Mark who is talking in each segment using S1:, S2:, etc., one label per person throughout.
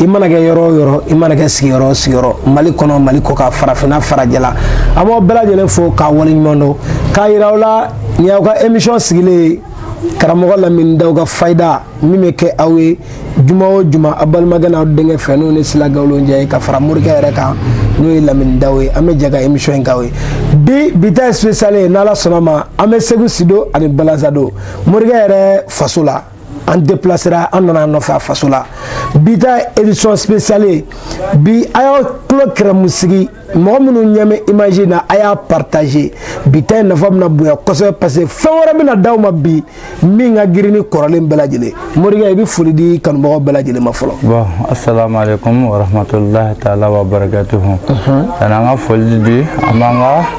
S1: i mana kɛ yɔrɔ o yɔrɔ i mana kɛ sigiyɔrɔ o sigiyɔrɔ mali kɔnɔ mali kɔkan farafinna farajɛla an b'aw bɛɛ lajɛlen fo k'aw waleɲuman dɔn k'a yira aw la nin y'aw ka emisiyɔn sigilen karamɔgɔ lamini daw ka fayida min bɛ kɛ aw ye juma o juma aw balimakɛ n'aw denkɛ fɛ n'o ni sila gawulonjɛ ye ka fara morikɛ yɛrɛ kan n'o ye lamini daw ye an bɛ jɛ ka emisiyɔn in k'aw ye bi bi ta ye sipesiyale ye n'ala sɔnna ma an bɛ segu sido ani balanzando morikɛ yɛrɛ faso la an depilasera an nan'a nɔfɛ a faso la bi ta édition spéciale bi a y'aw tulo kɛrɛmu sigi mɔgɔ minnu ɲɛ bɛ image in na a y'a partager bi ta in nafa bɛna bonya kosɛbɛ parce que fɛn wɛrɛ bɛna d'aw ma bi min ka girin ni kɔrɔlen bɛɛ lajɛlen morikɛ i bɛ foli di kanubagaw bɛɛ lajɛlen ma fɔlɔ. bon asalaamu
S2: aleykum warahmatulahi taala wa barakatuhu. sanni an ka foli di an b'an ka.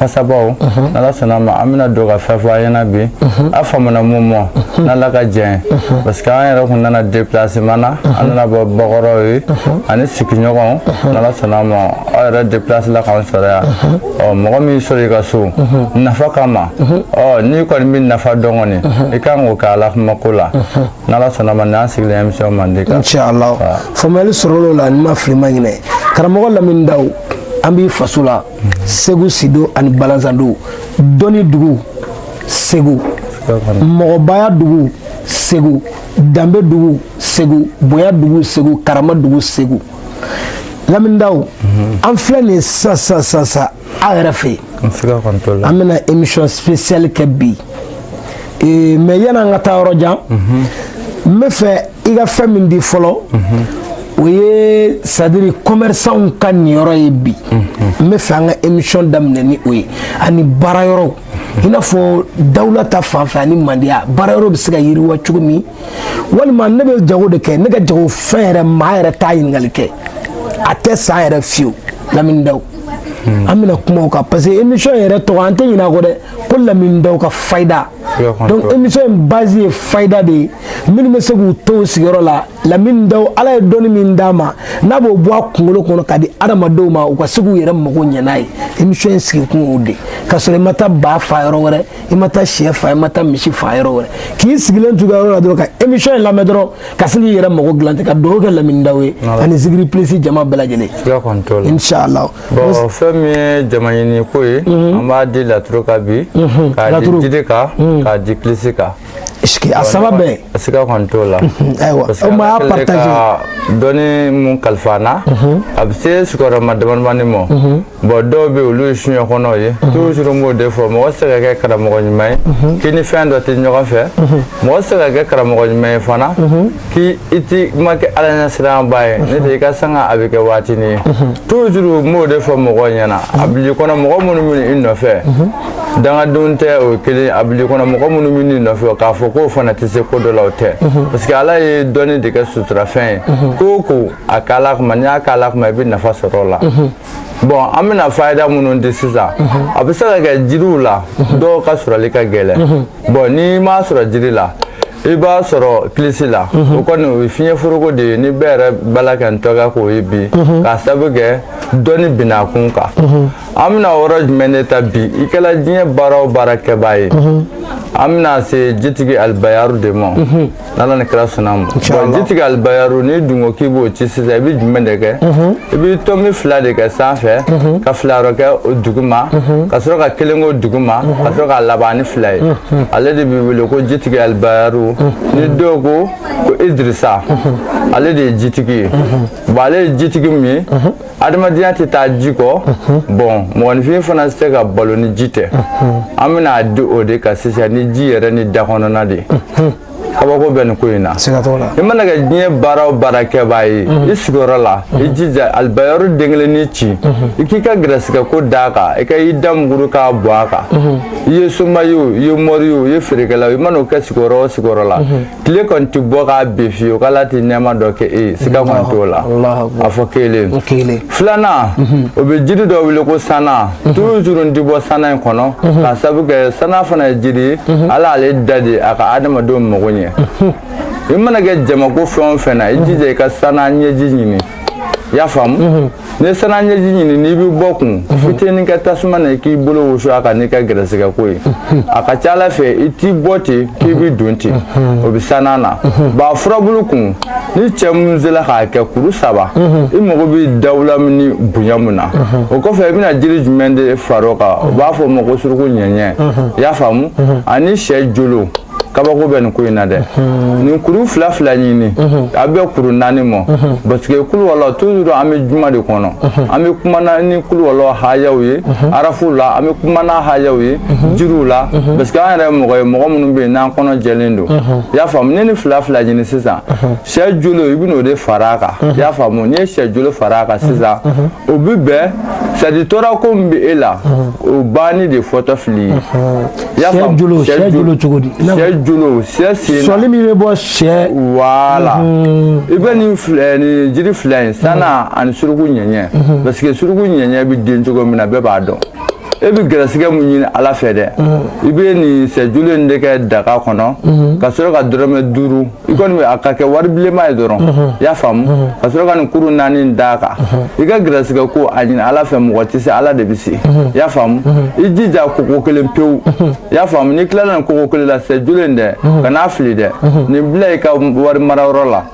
S2: fasabaw n'ala sɔnna ma an bɛna don ka fɛn fɔ aw ɲɛna bi a faamuna mun mɔ n'ala ka jɛn ye parce que an yɛrɛ kun nana déplacement na an nana bɔ bakɔrɔw ye ani sigiɲɔgɔnw n'ala sɔnna ma aw yɛrɛ déplace la k'an sɔrɔ yan ɔ mɔgɔ min sɔrɔ i ka so nafa kama ɔ n'i kɔni bɛ nafa dɔn kɔni i ka kan k'o kɛ ala kama ko la n'ala sɔnna ma n'an sigilen émission mandi kan inchallah faamuyali
S1: sɔrɔl'o la ni n ma fili n ma ɲinɛ karamɔgɔ lamini daw an b'i faso la segu sido ani balanzando dɔnni dugu segu mɔgɔbaya dugu segu danbe dugu segu bonya dugu segu karama dugu segu lamini daw mhm. an filɛ nin sisan sisan sisan sisan aw yɛrɛ fɛ yen an bɛna émission spéciale kɛ bi ee mais yan'an ka taa yɔrɔ jan n bɛ fɛ i ka fɛn min di fɔlɔ o ye c'est-à-dire kɔmɛrisanw ka niyɔrɔ ye bi n bɛ fɛ an ka emisiyɔn daminɛ ni o ye ani baara yɔrɔw i n'a fɔ dawula ta fan fɛ ani mandiya baara yɔrɔ bɛ se ka yiriwa cogo min walima ne bɛ jago de kɛ ne ka jago fɛn yɛrɛ maa yɛrɛ t'a ɲininkali kɛ a tɛ san yɛrɛ fiyewu lamini daw an bɛna kuma o kan parce que emisiyɔn yɛrɛ tɔgɔ an tɛ ɲinɛ a kɔ dɛ ko lamini daw ka fayida donc émission in base ye fayida de ye minnu bɛ se k'u to u sigiyɔrɔ la lamini daw ala ye dɔnni min d'a ma n'a b'o bɔ a kunkolo kɔnɔ k'a di adamadenw ma u ka se k'u yɛrɛ mago ɲɛ n'a ye émission in sigikun y'o de ka sɔrɔ i ma taa ba fa yɔrɔ wɛrɛ i ma taa sɛ fa i ma taa misi fa yɔrɔ wɛrɛ k'i sigilen t'i ka yɔrɔ la dɔrɔn ka émission in lamɛn dɔrɔn ka se k'i yɛrɛ mago dilan ten ka dugawu kɛ lamini daw ye ani zikiri plus jama bɛɛ lajɛlen inshallah Bon
S2: fɛn min ye jama ɲini ko ye an b'a di laturu kan bi k'a di jiri kan k'a di kilisi kan a saba
S1: bɛɛ sika kɔni t'o la
S2: ayiwa o ma y'a
S1: partager dɔnni min
S2: kalifa an na a bɛ se sigiyɔrɔma damadamani ma bon dɔw bɛ olu ye suɲɛ kɔnɔw ye toujours n b'o de fɔ mɔgɔ tɛ se ka kɛ karamɔgɔ ɲuman ye k'i ni fɛn dɔ tɛ ɲɔgɔn fɛ mɔgɔ tɛ se ka kɛ karamɔgɔ ɲuman ye fana k'i i ti ma kɛ ala ɲɛsiranba ye n'o tɛ i ka sanga a bɛ kɛ waatinin ye toujours n b'o de fɔ mɔgɔw ɲɛna a bil'i kɔnɔ mɔgɔ minnu bɛ i nɔfɛ dangadenw tɛ o ye kelen a bil'i kɔnɔ mɔgɔ minnu bɛ i nɔfɛ k'a fɔ k'o fana tɛ se ko dɔ la o tɛ parce que ala ye dɔnni de kɛ suturafɛn ye ko o ko a k'ala kama n'i y'a k'ala kama i bɛ nafa sɔrɔ o la bɔn an bɛna fayida minnu di sisan a bɛ se ka kɛ jiriw la dɔw ka sɔrɔli ka gɛlɛn bɔn n'i m'a sɔrɔ jiri la i b'a sɔrɔ kilisi la o kɔni o ye fiɲɛ foroko de ye ni bɛɛ yɛrɛ bala ka n tɔgɔ k'o ye bi k'a sababu kɛ dɔnni binna kun kan an bɛna yɔrɔ jumɛn de ta bi i kɛla diɲɛ baara o baara kɛbaa ye an bɛna se jitigi alibayaru de ma n'ala ni kira sɔnn'a ma bɔn jitigi alibayaru n'i dun ko k'i b'o ci sisan i bɛ jumɛn de kɛ i bɛ tɔmi fila de kɛ sanfɛ ka fila wɛrɛ kɛ o duguma ka sɔrɔ ka kelen k'o duguma ka sɔrɔ ka laban ni fila ye ale de bɛ wele ko jitigi alibayaru ni dɔw ko ko idirisa ale de ye jitigi ye bɔn ale ye jitigi min ye adamadenya tɛ taa ji kɔ bɔn mɔgɔninfin fana tɛ se ka balo ni ji tɛ an bɛna a di o de kan sisan ni ji yɛrɛ ni dakɔnɔna de ye kabako bɛ nin ko in na i mana kɛ diɲɛ baara o baara kɛbaa ye i sigiyɔrɔ la i jija alibayaru den kelennin ci i k'i ka gɛrɛsigɛ ko d'a kan i ka i da muguru k'a bɔ a kan i ye soma ye o i ye mɔri ye o i ye feerekɛla i mana o kɛ sigiyɔrɔ o sigiyɔrɔ la tile kɔni tɛ bɔ ka bin fiyewu k'ala tɛ nɛɛma dɔ kɛ e ye siga kɔni t'o la a fɔ kelen filanan o bɛ jiri dɔ wele ko sana toujours n ti bɔ sana in kɔnɔ k'a sabu kɛ sana fana ye jiri ye ala ale da de a ka adamadenw mago ɲɛ i mana kɛ jamako fɛn o fɛn na i jija i ka sana ɲɛji ɲini i y'a faamu ni sana ɲɛji ɲini n'i bɛ bɔ kun fitinin kɛ tasuma na i k'i bolo wusu a kan n'i ka gɛrɛsɛgɛ ko ye a ka ca ala fɛ i ti bɔ ten k'i bɛ don ten o bɛ sana na ba furabulu kun ni cɛ minnu sera k'a kɛ kuru saba i mago bɛ dawula min ni bonya min na o kɔfɛ i bɛna jiri jumɛn de fara o kan u b'a fɔ o ma ko suruku ɲɛɲɛ i y'a faamu ani sɛ jolo kabako bɛ nin ko in na dɛ nin kuru fila fila ɲini a bɛ kuru naani bɔ parce que kuluwala toujours an bɛ juma de kɔnɔ an bɛ kumana ni kuluwala hayaw ye arafu la an bɛ kumana hayaw ye jiriw la parce que an yɛrɛ mɔgɔ ye mɔgɔ minnu bɛ yen n'an kɔnɔ jɛlen don i y'a faamu ne ni fila fila ɲini sisan sɛ jolo i bɛn'o de fara a kan i y'a faamu n'i ye sɛ jolo fara a kan sisan o bɛ bɛn sadi tɔɔrɔ ko min bɛ e la o banni de fɔtɔ fili ye i y'a faamu sɛ jolo sɛ jolo cogo di sɛ jolo sɛ sen sɔli min bɛ bɔ
S1: sɛ
S2: wala i bɛ nin jiri fila in sana ani suruku ɲɛɲɛ parce que suruku ɲɛɲɛ bɛ den cogo min na bɛɛ b'a dɔn. e bɛ gɛrɛsɛgɛ mun ɲini ala fɛ dɛ i bɛ nin sɛjulu in de kɛ daga kɔnɔ ka sɔrɔ ka dɔrɔmɛ duuru i kɔni a ka kɛ wari bilenma ye dɔrɔn i y'a faamu ka sɔrɔ ka nin kuru naani d'a kan i ka gɛrɛsɛgɛ ko a ɲini ala fɛ mɔgɔ tɛ se ala de bɛ se i y'a faamu i jija koko kelen pewu i y'a faamu n'i tilala nin koko kelen la sɛjulu in dɛ kan'a fili dɛ nin bila i ka wari mara yɔrɔ la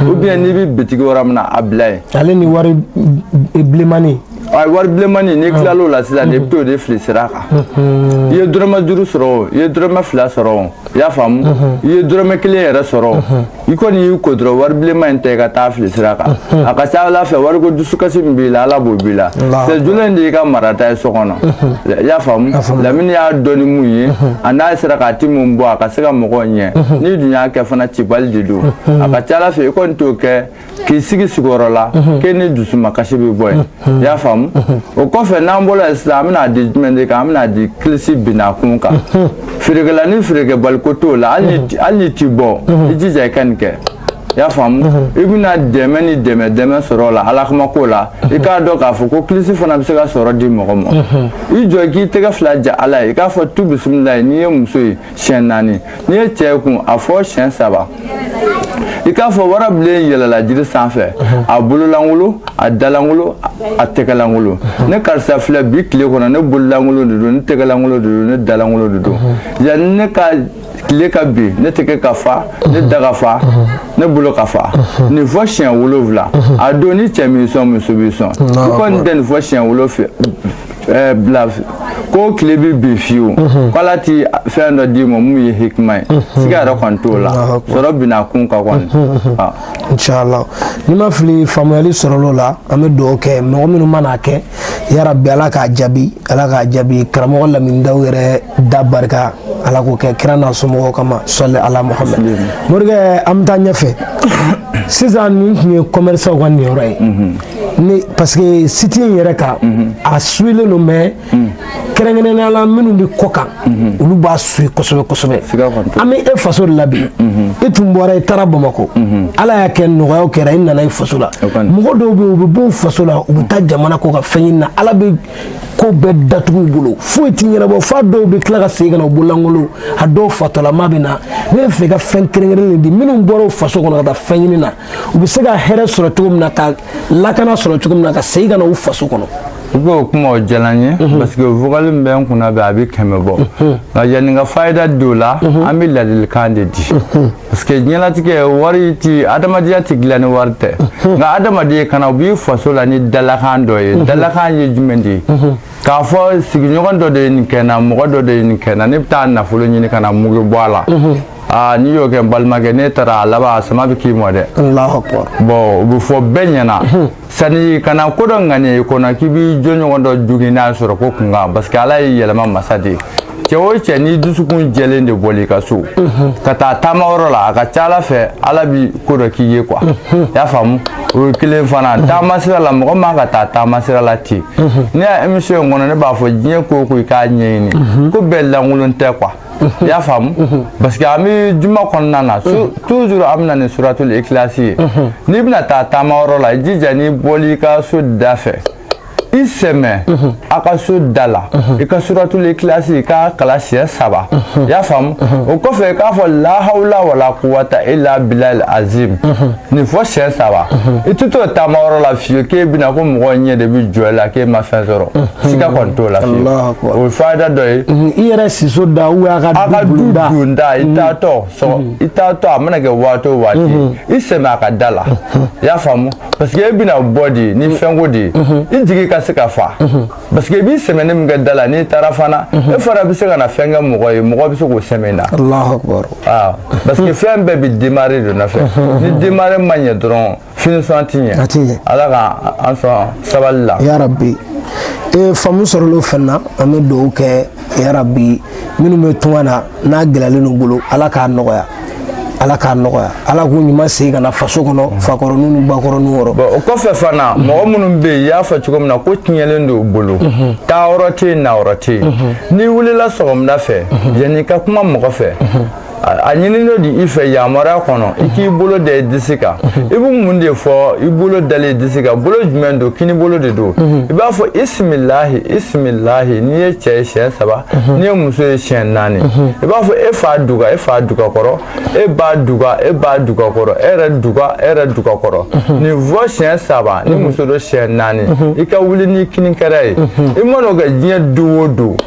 S2: ou bien n'i bɛ bitigi yɔrɔ min na a bila yen ale ni wari
S1: bilenmani a
S2: wari bilenmani n'i tilal'o la sisan de i bɛ t'o de fili sira kan i ye dɔrɔmɛ duuru sɔrɔ o i ye dɔrɔmɛ fila sɔrɔ o i y'a faamu i ye dɔrɔmɛ kelen yɛrɛ sɔrɔ o i kɔni y'i ko dɔrɔn wari bilenman in ta i ka taa fili sira kan a ka ca ala fɛ wariko dusukasi min b'i la ala b'o b'i la sɛjulu in de y'i ka marata ye so kɔnɔ i y'a faamu lamini y'a dɔn ni mun ye a n'a sera k'a ti mun bɔ a ka se ka mɔgɔw ɲɛ n'i dun y'a kɛ fana cibali de don a ka ca ala fɛ i kɔni t'o kɛ k'i sigi sigiyɔrɔ la k'e ni dusumakasi bɛ bɔ yen i y'a faamu o kɔfɛ n'an bɔra yen sisan an bɛna di jumɛn de kan an bɛna di kilisi binna kun kan feerekɛla ni feerekɛbaliko t'o la hali n'i ti bɔ i jija i ka nin kɛ i y'a faamu i bɛna dɛmɛ ni dɛmɛ dɛmɛ sɔrɔ o la ala kama ko la i k'a dɔn k'a fɔ ko kilisi fana bɛ se ka sɔrɔ di mɔgɔ ma i jɔ k'i tɛgɛ fila ja ala ye i k'a fɔ tu bisimilayi n'i ye muso ye siɲɛ naani n'i ye cɛ ye kun a fɔ siɲɛ saba i k'a fɔ warabilen yɛlɛla jiri sanfɛ a bololankolon a dalankolon a tɛgɛlankolon ne karisa filɛ bi tile kɔnɔ ne bololankolon de don ne tɛgɛlankolon de don ne dalankolon de don yanni ne ka tile ka bin ne tɛgɛ ka fa ne da ka fa ne bolo ka fa nin fɔ siɲɛ wolonwula a don ni cɛ m'i sɔn muso b'i sɔn i kɔni tɛ nin fɔ siɲɛ wolonwula ɛɛ bila ko tile bɛ bin fiyewu mhm. k'ala ti fɛn dɔ d'i ma mun ye hikima ye mhm. siga yɛrɛ kɔni t'o la sɔrɔ binna kun kan kɔni. Mhm, ah. inshallah
S1: ni n ma fili faamuyali sɔrɔl'o la an bɛ dugawu kɛ mɔgɔ minnu man'a kɛ yarabi ala k'a jaabi ala k'a jaabi karamɔgɔ lamini daw yɛrɛ da barika ala k'o kɛ kira n'a somɔgɔw kama sɔli ala muhammed morikɛ an bɛ taa ɲɛfɛ sisan nin tun ye kɔmɛrisanw ka niyɔrɔ ye. ne parce que site in yɛrɛ kan mhm. a suilen don mais mhm. kɛrɛnkɛrɛnnenya la minnu bɛ kɔ kan mhm. olu b'a sui kosɛbɛ kosɛbɛ an bɛ e faso de la bi e tun bɔra i taara bamakɔ ala y'a kɛ nɔgɔyaw kɛra i nana i faso la mɔgɔ dɔw bɛ yen u bɛ bɔ faso la u bɛ taa jamana kɔ kan fɛn ɲini na ala bɛ ko bɛɛ datugu u bolo foyi tɛ ɲɛnabɔ f'a dɔw bɛ tila ka segin ka na u bololankolon a dɔw fatɔlama bɛ na ne b'a fɛ ka fɛn kɛrɛnkɛrɛnnen di minnu bɔra faso kɔnɔ ka taa fɛn ɲini na u bɛ se ka hɛrɛ sɔrɔ cogo min na ka lakana sɔrɔ cogo min na ka segin ka na u faso kɔnɔ i b'o kuma
S2: o diyara n ye parce que vocal min bɛ n kunna bɛ a bɛ kɛmɛ bɔ nka yanni ka fayida don o la an bɛ ladilikan de di parce que diɲɛlatigɛ wari ti adamadenya ti dilan ni wari tɛ nka adamaden kana bɔ i faso la ni dalakan dɔ ye dalakan ye jumɛn de ye k'a fɔ sigiɲɔgɔn dɔ de ye nin kɛ n na mɔgɔ dɔ de ye nin kɛ n na ne bɛ taa nafolo ɲini ka na mugu bɔ a la aa n'i y'o kɛ n balimakɛ n'e taara a laban a sama bɛ k'i mɔ dɛ allahu akbar bon o bɛ fɔ bɛɛ ɲɛna sani kana ko dɔ ŋaniya i kɔnɔ k'i b'i jɔɲɔgɔn dɔ jogin n'a sɔrɔ ko kunkan parce que ala ye yɛlɛma masa de ye cɛ o cɛ ni dusukun jɛlen de bɔl'i ka so ka taa taama yɔrɔ la a ka ca ala fɛ ala bi ko dɔ k'i ye quoi y'a faamu o ye kelen fana taama sira la mɔgɔ man ka taa taama sira la ten ne ya émission in kɔnɔ ne b'a fɔ diɲɛ ko o ko i k'a ɲɛɲini ko bɛɛ lankolon tɛ quoi i y'a faamu parce que an bɛ juma kɔnɔna na toujours an bɛna ni suratul ikilasi ye n'i bɛna taa taama yɔrɔ la i jija n'i bɔli i ka so da fɛ i sɛmɛ a ka so da la i ka suratul ikilasi i k'a kalan siɲɛ saba i y'a faamu o kɔfɛ i k'a fɔ lahawula wala kuwata illa bilal azim nin fɔ siɲɛ saba i tɛ t'o taama yɔrɔ la fiyewu k'e bɛna ko mɔgɔ ɲɛ de bɛ jɔ i la k'e ma fɛn sɔrɔ siga kɔni t'o la fiyewu o ye fayida dɔ ye i yɛrɛ siso
S1: da ou a ka du donda
S2: i taatɔ sɔgɔ i taatɔ a mana kɛ waati o waati i sɛmɛ a ka da la i y'a faamu parce que e bɛna bɔ de ni fɛnko de ye i jigi ka se ka fa parce que i bi sɛmɛni min kɛ da la n'i taara fana e fana bɛ se ka na fɛn kɛ mɔgɔ ye mɔgɔ bɛ se k'o sɛmɛ na parce que fɛn bɛɛ bɛ démarrer de nɔfɛ ni démarrer ma ɲɛ dɔrɔn finition ti ɲɛ a ti ɲɛ ala ka an sɔn sabali la yarabi
S1: ee faamu sɔrɔla o fɛn na an bɛ dugawu kɛ yarabi minnu bɛ tunga na n'a gɛlɛyalen n'u bolo ala k'a nɔgɔya ala k'a nɔgɔya ala k'u ɲuman segin ka na faso kɔnɔ mm. fakɔrɔninw ni bakɔrɔninw yɔrɔ o kɔfɛ fana
S2: mm. mɔgɔ minnu bɛ yen i y'a fɔ cogo min na ko tiɲɛlen don u bolo mm-hmm. taa yɔrɔ tɛ yen na yɔrɔ tɛ yen mm-hmm. n'i wulila sɔgɔmada fɛ mm-hmm. yanni i ka kuma mɔgɔ fɛ a ɲininen don de i fɛ yamaruya kɔnɔ i k'i bolo da i disi kan i bɛ mun de fɔ i bolo dalen i disi kan bolo jumɛn don kini bolo de don i b'a fɔ bisimilahi bisimilahi n'i ye cɛ ye siɲɛ saba n'i ye muso ye siɲɛ naani i b'a fɔ e fa duga e fa duga kɔrɔ e ba duga e ba duga kɔrɔ e yɛrɛ duga e yɛrɛ duga kɔrɔ nin fɔ siɲɛ saba ni muso don siɲɛ naani i ka wuli n'i kini kɛrɛ ye i man'o kɛ diɲɛ don o don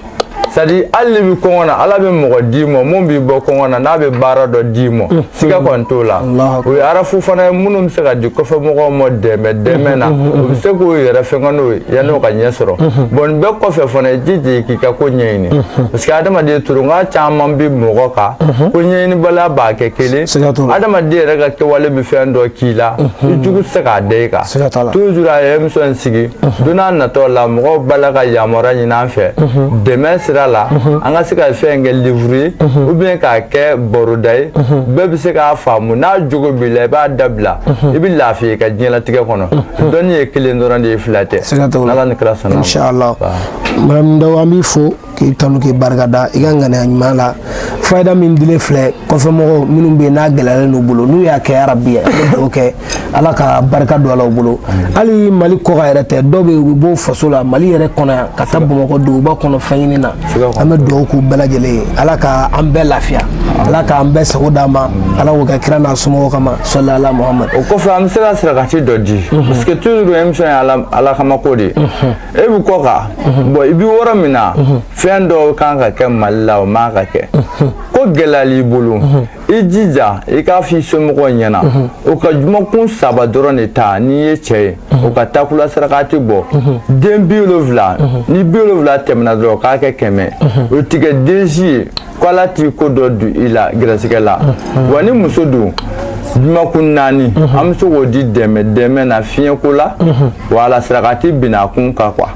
S2: c'est-à-dire hali n'i bɛ kɔngɔ na ala bɛ mɔgɔ d'i ma min b'i bɔ kɔngɔ na n'a bɛ baara dɔ d'i ma mm. siga mm. kɔni t'o la o ye arafu fana ye minnu bɛ se ka di kɔfɛmɔgɔw ma dɛmɛ dɛmɛ na mm-hmm. o bɛ se k'o yɛrɛ fɛnkɛ n'o ye yanni o ka ɲɛ sɔrɔ mm-hmm. bon nin bɛɛ kɔfɛ fana i jija k'i ka ko ɲɛɲini mm-hmm. parce que adamaden tɔɔrɔko caman bɛ mɔgɔ kan ko ɲɛɲinibaliya b'a kɛ kelen adamaden yɛrɛ ka kɛwale bɛ fɛn dɔ k'i la i jugu tɛ se k'a da i kan toujours a ye émission sigi don nataw la mɔgɔw b'a la ka yamaruya ɲini an fɛ dɛmɛ sira la an ka se ka fɛn kɛ livre ye ou bien k'a kɛ baroda ye bɛɛ bɛ se k'a faamu n'a jogo b'i la i b'a dabila i bɛ lafiya i ka diɲɛlatigɛ kɔnɔ dɔnni ye kelen dɔrɔn de ye fila tɛ n'ala ni kira sɔnna ma. Inshallah.
S1: Lamini Ndaw an b'i fo. k'i tanu k'i barikada i ka ŋaniya ɲuman la fayida min dilen filɛ kɔfɛmɔgɔw minnu bɛ yen n'a gɛlɛyalen n'u bolo n'u y'a kɛ yarabi an bɛ dugawu kɛ ala ka barika don a la u bolo hali mali kɔkan yɛrɛ tɛ dɔw bɛ yen u bɛ bɔ faso la mali yɛrɛ kɔnɔ yan ka taa bamakɔ duguba kɔnɔ fɛn ɲini na an bɛ dugawu k'u bɛɛ lajɛlen ye ala ka an bɛɛ lafiya ala k'an bɛɛ sago d'a ma ala k'o kɛ kira n'a somɔgɔw kama salli ala muhamadu o kɔfɛ an bɛ se ka
S2: sarakati dɔ di parce que toujours émission ye ala kama ko de ye e bɛ kɔkan mhm. bon i bɛ yɔrɔ min na mhm. fɛn dɔw kan ka kɛ mali la o man ka kɛ mhm. ko gɛlɛyal'i bolo i jija i k'a f'i somɔgɔw ɲɛna o ka jumakun saba dɔrɔn de ta n'i ye cɛ ye o ka takula sarakati bɔ den bi wolonfila ni bi wolonfila tɛmɛna dɔrɔn k'a kɛ kɛmɛ o tigɛ den si ye ko ala t'i ko dɔ don i la gɛrɛsɛgɛ la wa ni muso don jumakun naani an bɛ se k'o di dɛmɛ dɛmɛ na fiɲɛko la wala sarakati bina kun kan quoi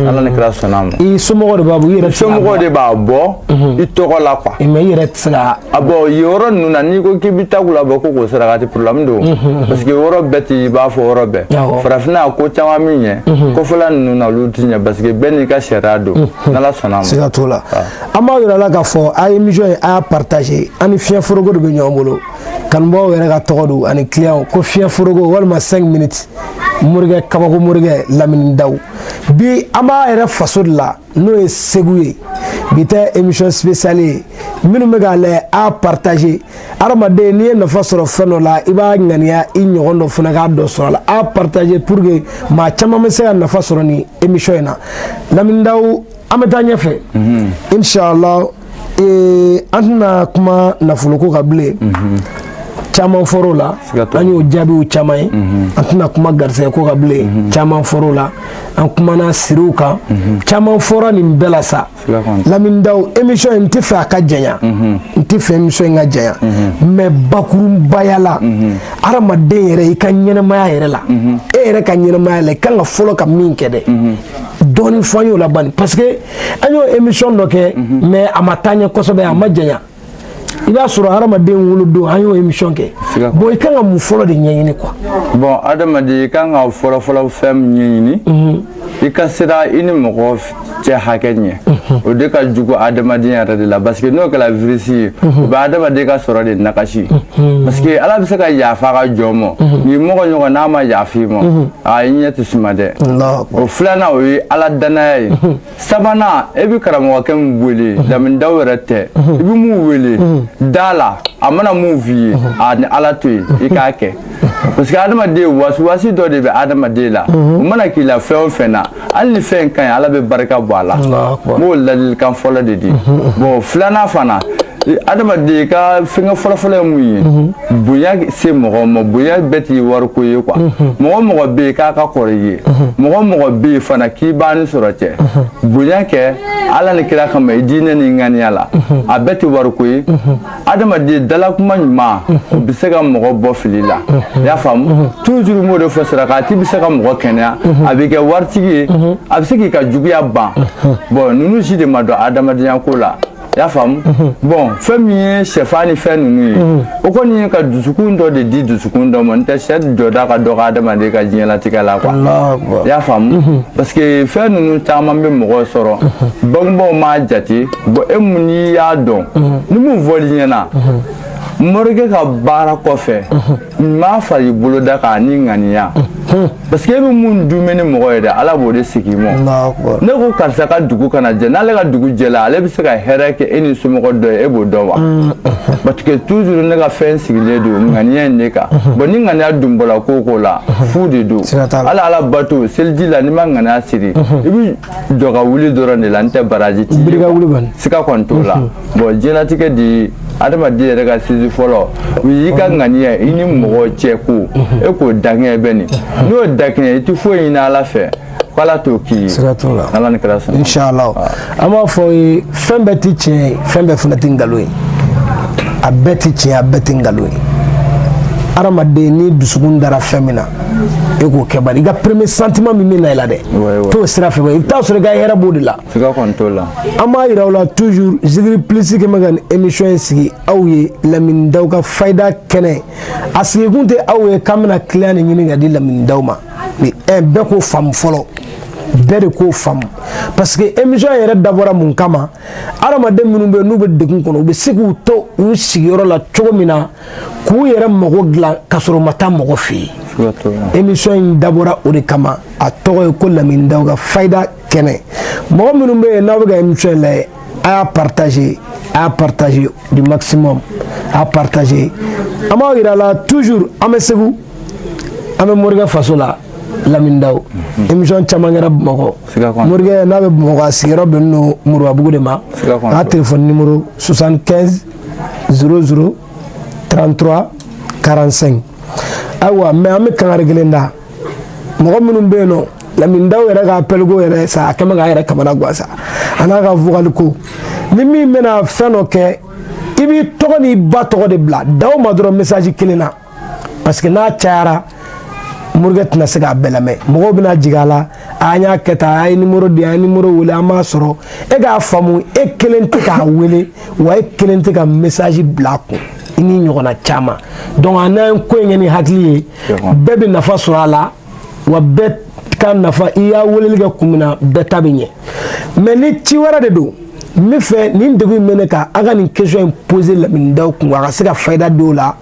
S2: ala ni kira sɔnna ma i somɔgɔ de b'a bɔ i yɛrɛ
S1: somɔgɔ de b'a bɔ
S2: i tɔgɔ la quoi mais i yɛrɛ tɛ se
S1: ka a bɔ yen yɔrɔ
S2: ninnu na n'i ko k'i bɛ takula bɔ ko k'o sarakati problème don parce que yɔrɔ bɛɛ t'i b'a fɔ yɔrɔ bɛɛ farafinna ko caman min ɲɛ kɔfɛla ninnu na olu tɛ ɲɛ parce que bɛɛ n'i ka sariya don n'ala sɔnna ma siga t'o la
S1: an b'a yira la k'a fɔ a ye émission in a y'a partager an ni fiɲɛ foroko de bɛ ɲɔgɔn bolo kanubaaw yɛrɛ ka tɔgɔ don ani client ko fiɲɛ foroko walima 5 minutes morikɛ kabako morikɛ lamini daw bi an b'a yɛrɛ faso de la n'o ye segu ye bi tɛ émission spéciale ye minnu bɛ k'a lajɛ a partager adamaden n'i ye nafa sɔrɔ fɛn dɔ la i b'a ŋaniya i ɲɔgɔn dɔ fana ka dɔ sɔrɔ a la a partager pour que maa caman bɛ se ka nafa sɔrɔ nin émission in na lamini daw an bɛ taa ɲɛfɛ mhm. inshallah ee an tɛna kuma nafoloko kan bilen mhm. caman fɔr'o la an y'o jaabiw caman ye mhm. an tɛna kuma garisɛgɛko kan bilen caman fɔr'o la an kumana siriw kan caman fɔra nin bɛɛ la sa lamini daw émission in n tɛ fɛ a ka janya n tɛ fɛ émission in ka janya mais bakurubaya la hadamaden yɛrɛ i ka ɲɛnɛmaya yɛrɛ la e yɛrɛ ka ɲɛnɛmaya la i kan ka fɔlɔ ka min kɛ dɛ dɔɔnin fɔ an y'o la bani parce que an y'o émission dɔ kɛ mais a ma taa ɲɛ kosɛbɛ a ma janya i b'a sɔrɔ hadamaden wolodon an y'o émission kɛ bon i kan ka mun fɔlɔ de ɲɛɲini quoi bon hadamaden
S2: i kan ka fɔlɔfɔlɔ fɛn min ɲɛɲini mhm. i ka siran i ni mɔgɔ cɛ hakɛ ɲɛ mhm. o de ka jugu hadamaden yɛrɛ de la parce que n'o kɛra virisi ye mhm. o bɛ hadamaden ka sɔrɔ de nagasi parce que ala bɛ se ka yafa a ka jɔn ma n'i mɔgɔ ɲɔgɔn n'a ma yafa i ma a i ɲɛ tɛ suma dɛ o filanan o ye ala danaya ye sabanan e bɛ karamɔgɔkɛ min wele Lamine Dawu yɛrɛ tɛ i bɛ mun wele da a la a mana mun f'i ye a ni ala to yen i k'a kɛ parce que adamaden wasuwasi dɔ de bɛ adamaden la o mana k'i la fɛn o fɛn na hali ni fɛn ka ɲi ala bɛ barika bɔ a la n b'o ladilikan fɔlɔ de di bon filanan fana adamaden ka fɛngɛ fɔlɔfɔlɔ ye mun ye mhm. bonya se mɔgɔ ma bonya bɛɛ ti wariko ye quoi mhm. mɔgɔ o mɔgɔ bɛ yen k'a ka kɔrɔ i ye mhm. mɔgɔ o mɔgɔ bɛ yen fana k'i b'a ni sɔrɔ cɛ bonya kɛ ala ni kira kama i diinɛ ni ŋaniya la a bɛɛ tɛ wariko ye adamaden dalakuma ɲuman o bɛ se ka mɔgɔ bɔ fili la i y'a faamu toujours n b'o de fɔ sarakati bɛ se ka mɔgɔ kɛnɛya a b'i kɛ waritigi ye a bɛ se k'i ka juguya ban bon ninnu si de ma dɔn adamadenya ko la i y'a faamu bon fɛn min ye sɛfan ni fɛn ninnu ye o kɔni ye ka dusukun dɔ de di dusukun dɔ ma n'o tɛ sɛ jɔda ka dɔgɔ adamaden ka diɲɛlatigɛ la quoi i y'a faamu parce que fɛn ninnu caman bɛ mɔgɔ sɔrɔ bangebaaw m'a jate bon e mun n'i y'a dɔn mhm. ni mun fɔli ɲɛna mhm. morikɛ ka baara kɔfɛ n mhm. m'a fara i bolo da kan ni ŋaniya parce que e bɛ mun dun bɛ ni mɔgɔ ye dɛ ala b'o de segin i ma ne ko karisa ka dugu kana jɛ n'ale ka dugu jɛla ale bɛ se ka hɛrɛ kɛ e n'i somɔgɔ dɔ ye e b'o dɔn wa mm, parce que toujours ne ka fɛn sigilen don ŋaniya in de kan bon ni ŋaniya dun bɔra ko o ko la fu de don hali ala bato seliji la n'i ma ŋaniya siri i bɛ jɔ ka wuli dɔrɔn de la n'o tɛ baraji ti biri ka wuli kɔni sika kɔni t'o la bon diɲɛlatigɛ di adamaden yɛrɛ ka sinsin fɔlɔ o y'i ka ŋaniya i ni mɔgɔ cɛ ko e k'o dakɛɲɛ bani n'i y'o dakɛɲɛ i tɛ foyi ɲini ala fɛ k'ala t'o k'i ye sika t'o la ala ni kira sɔnna inshallah an
S1: b'a fɔ ye fɛn bɛɛ ti tiɲɛ ye fɛn bɛɛ fana ti nkalon ye a bɛɛ ti tiɲɛ a bɛɛ ti nkalon ye adamaden n'i dusukun dara fɛn min na e k'o kɛ bari i ka premier sentiment min bɛ na i la dɛ t'o sira fɛ i bɛ taa sɔrɔ i ka hɛrɛ b'o de la
S2: an b'a yira aw
S1: la toujours Zikiri Plus kɛ bɛ ka nin émission in sigi aw ye Lamine Dawu ka fayida kɛnɛ a sigikun tɛ aw ye k'an bɛna client de ɲini ka di Lamine Dawu ma mais bɛɛ k'o faamu fɔlɔ bɛɛ de k'o faamu parce que émission yɛrɛ dabɔra mun kama adamaden minnu bɛ yen n'u bɛ degun kɔnɔ u bɛ se k'u to u sigiyɔrɔ la cogo min na k'u yɛrɛ mago dilan ka sɔrɔ u ma taa mɔgɔ fɛ yen émission in dabɔra o de kama a tɔgɔ ye ko lamini daw ka fayida kɛnɛ mɔgɔ minnu bɛ yen n'aw bɛ ka émission in lajɛ a y'a partager a y'a partager du maximum a y'a partager an b'aw yira la toujours an bɛ segu an bɛ morikɛ faso la lamini daw hmm. émission caman kɛra bamakɔ morikɛ n'a bɛ bamakɔ a sigiyɔrɔ bɛnnen don moribabugu de ma a ka telefɔni nimoro 75 00 33 45 ayiwa mais an bɛ kangari kelen da mɔgɔ minnu bɛ yen nɔ lamini daw yɛrɛ ka appel ko yɛrɛ sa a kɛ bɛ k'a yɛrɛ kamana gan sa a n'a ka vocal ko ni min bɛna fɛn dɔ kɛ i b'i tɔgɔ n'i ba tɔgɔ de bila daw ma dɔrɔn message kelen na parce que n'a cayara morikɛ tɛna se k'a bɛɛ lamɛn mɔgɔw bɛna jigin a la an y'a kɛ tan a ye nimoro di an ye nimoro wele an m'a sɔrɔ e k'a faamu e kelen tɛ k'a wele wa e kelen tɛ ka message bila a kun i ni ɲɔgɔnna caman donc an n'an ye ko in kɛ ni hakili ye bɛɛ bɛ nafa sɔrɔ a la wa bɛɛ ka nafa i y'a weleli kɛ kun min na bɛɛ ta bɛ ɲɛ mais ni ci wɛrɛ de don n bɛ fɛ nin degun in bɛ ne kan a ka nin question in poser lamini daw kun a ka se ka fayida don o la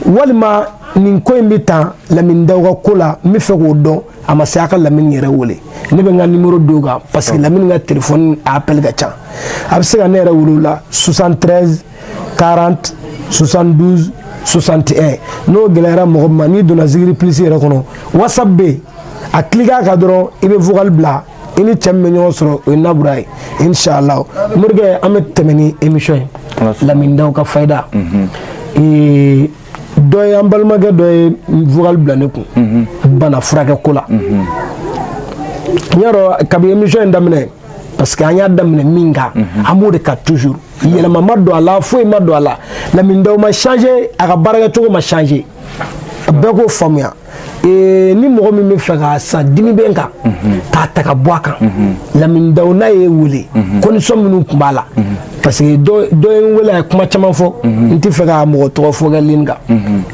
S1: walima nin ko in bɛ tan lamini daw ka ko la n bɛ fɛ k'o dɔn a ma se a ka lamini yɛrɛ wele ne bɛ n ka nimoro d'o kan parce que lamini ka telefɔni a appel ka ca a bɛ se ka ne yɛrɛ wele o la 73 40 72 61 n'o gɛlɛyara mɔgɔ ma n'i donna zikiri plus yɛrɛ kɔnɔ whatsapp bɛ yen a cliquer kan dɔrɔn i bɛ vocal bila i ni cɛ min bɛ ɲɔgɔn sɔrɔ o ye nabura ye inshallah morikɛ an bɛ tɛmɛ ni émission ye lamini daw ka fayida mhm. dɔ ye an balimakɛ dɔ ye vocal bila ne kun mhm. bana furakɛ ko la mhm. n y'a dɔn kabi émission in daminɛ parce que an y'a daminɛ min kan an b'o de kan toujours yɛlɛma ma don a la foyi ma don a la lamini daw ma changer a ka baarakɛcogo ma changer bɛɛ k'o faamuya ni mɔgɔ min bɛ fɛ ka san dimi bɛ n kan k'a ta ka bɔ a kan lamini dawu n'a ye wele condition minnu tun b'a la parce que dɔ ye n wele a ye kuma caman fɔ n tɛ fɛ ka mɔgɔ tɔgɔ fɔ kɛ ligne kan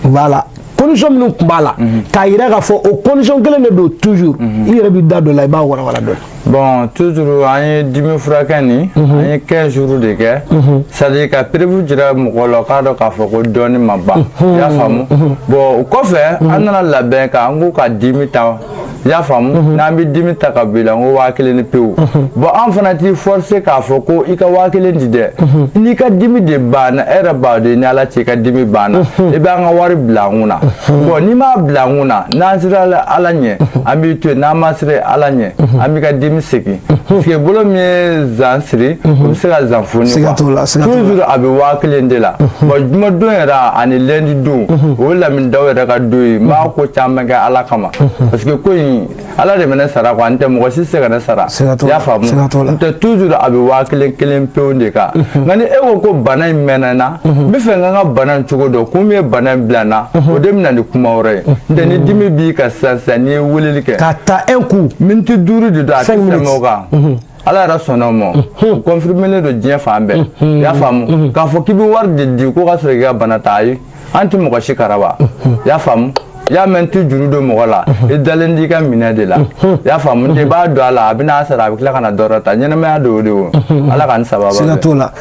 S1: voilà condition minnu tun b'a la k'a jira k'a fɔ o condition kelen de don toujours i yɛrɛ b'i da don a la i b'a walawala dɔ la bon
S2: toujours an ye dimi furakɛ nin mhm. an ye 15 jours de kɛ mhm. c'est à dire ka preuve jira mɔgɔ la k'a dɔn k'a fɔ ko dɔnni ma ban mhm. y'a faamu bon o kɔfɛ an nana labɛn k'an k'u ka dimi ta y'a faamu n'an bɛ dimi ta ka bila n ko waa kelen ni pewu bon an fana t'i forcer k'a fɔ ko i ka waa kelen di dɛ n'i ka dimi de banna e yɛrɛ b'a dɔn ni ala cɛ i ka dimi banna i bɛ an ka wari bila an kun na bon n'i m'a bila an kun na n'an sera ala ɲɛ an b'i to yen n'an ma tɛ ala ɲɛ an b'i ka dimi segin parce que bolo min ye zan siri o bɛ se ka zan foni toujours a bɛ waa kelen de la bon jumadon yɛrɛ ani lundi don o ye lamini dawu yɛrɛ ka don ye n b'a ko caman kɛ ala kama parce que ko in ala de bɛ ne sara quoi n tɛ mɔgɔ si tɛ se ka ne sara i y'a faamu n tɛ toujours a bɛ waa kelen kelen pewu de kan nka ni e ko ko bana in mɛnna n na n bɛ fɛ n ka n ka bana in cogo dɔn kun min ye bana in bila n na o de bɛ na ni kuma wɛrɛ ye n tɛ ni dimi b'i kan sisan sisan n'i ye weleli ka ta un
S1: coup minute duuru de don
S2: a tɛ tɛmɛ o kan ala yɛrɛ sɔnna o ma o confirmelen don diɲɛ fan bɛɛ i y'a faamu k'a fɔ k'i bɛ wari de di ko ka sɔrɔ k'i ka bana ta ayi an tɛ mɔgɔ si karaba i y'a faamu y'a mɛ an tɛ juru don mɔgɔ la i dalen t'i ka minɛ de la y'a faamu i b'a don a la a bɛ n'a sara a bɛ tila ka na dɔ wɛrɛ ta ɲɛnɛmaya don o de o ala ka ni sababa siga t'o la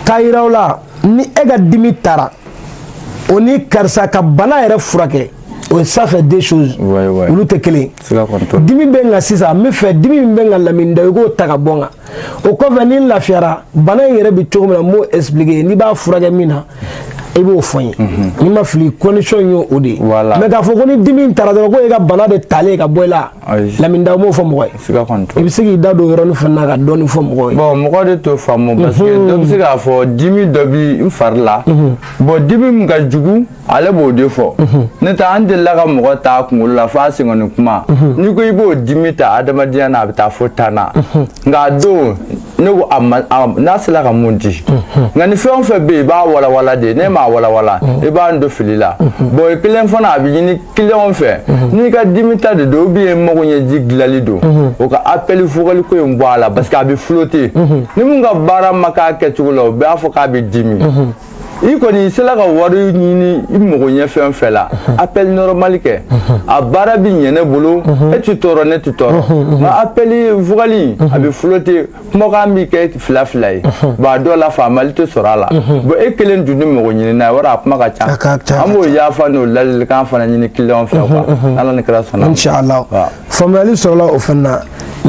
S1: k'a yira o la ni e ka dimi tara o ni karisa ka bana yɛrɛ furakɛ o ye ça fait deux choses olu tɛ kelen ye dimi bɛ n kan sisan n bɛ fɛ dimi min bɛ n kan lamini dawu i k'o ta ka bɔ n kan o kɔfɛ ni n lafiyara bana in yɛrɛ bɛ cogo min na n b'o expliquer n'i b'a furakɛ min na i b'o fɔ n ye n'i ma fili condition ye o de ye mais k'a fɔ ko ni dimi in tara dɔrɔn ko e ka bana de talen ka bɔ i la lamini dawu m'o fɔ mɔgɔ ye i bɛ se k'i da don o yɔrɔnin fana na ka dɔɔnin fɔ mɔgɔw ye bon mɔgɔ de t'o faamu
S2: parce que dɔ bɛ se k'a fɔ dimi dɔ bɛ n fari la bon dimi min ka jugu ale b'o de fɔ ne ta an delila ka mɔgɔ ta kunkolo la fo a senkɔni kunba n'i ko i b'o dimi ta adamadenya na a bɛ taa fo tan na nka a don ne ko n'a sera ka mun di nka ni fɛn o fɛn bɛ yen i b'a walawala de n'i m'a walawala i b'an don fili la bon i kelen fana a bɛ ɲini clients fɛ n'i ka dimi ta de don ou bien mago ɲɛji dilali don o ka appel vocal ko in bɔ a la parce que a bɛ flotter ni mun ka baara ma k'a kɛcogo la o b'a fɔ k'a bɛ dimi i kɔni i sela ka wari ɲini i mago ɲɛ fɛn fɛn la appel normal kɛ a baara bi ɲɛ ne bolo e ti tɔɔrɔ ne ti tɔɔrɔ nka appel vocal a bɛ flotter kumakan bi kɛ fila fila ye bon a dɔw la faamuli tɛ sɔrɔ a la bon e kelen dun ni mago ɲini n'a ye wari a kuma ka ca an b'o yafa n'o ladilikan fana ɲini client fɛ quoi ala ni kira sɔnna inshallah
S1: faamuyali sɔrɔla o fana na